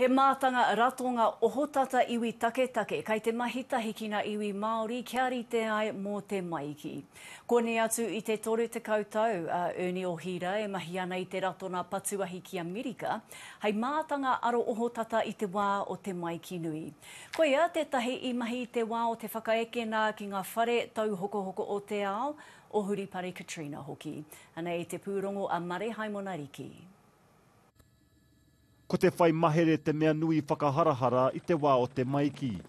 He mātanga ratonga ohotata iwi taketake kei te mahi tahi ki ngā iwi Māori kia rite ai mō te maiki. Koni atu i te 30 tau a Ernie Ohira e mahi ana i te ratonga patuahi ki Amerika hei mātanga aro ohotata i te wā o te maiki nui. Koia tētahi i mahi i te wā o te whakaekena ki ngā whare tauhokohoko o te ao, o Huripare Katrina hoki. Anei te pūrongo a Mare Haimona Riki. Ko te whai mahere te mea nui whakaharahara i te wā o te maiki.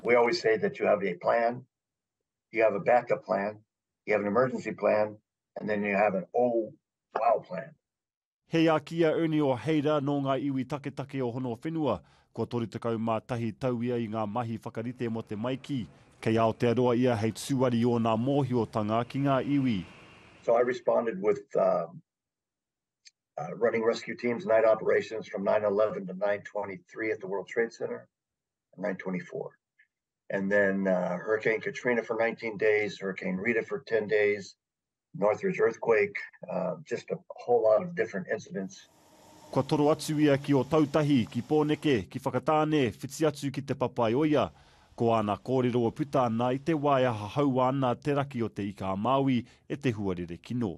We always say that you have a plan, you have a backup plan, you have an emergency plan and then you have an oh wow plan. He a ki a Ernie Oheira nō ngā iwi taketake o Honowhenua, kua 31 tau ia i ngā mahi whakarite mō te maiki. Kei Aotearoa ia hei tūari i ōna mōhiotanga ki ngā iwi. So I responded with uh, running rescue teams, night operations from 9:11 to 9:23 at the World Trade Center, 9:24, and then uh, Hurricane Katrina for 19 days, Hurricane Rita for 10 days, Northridge earthquake, uh, just a whole lot of different incidents. Kua toro atu ia ki Otautahi, ki Pōneke, ki Whakatāne, whiti atu ki Te Papaioia. Ko āna kōrero e puta ana i te wā e hahaua ana te raki o Te Ika-a-Māui e te huarere kino.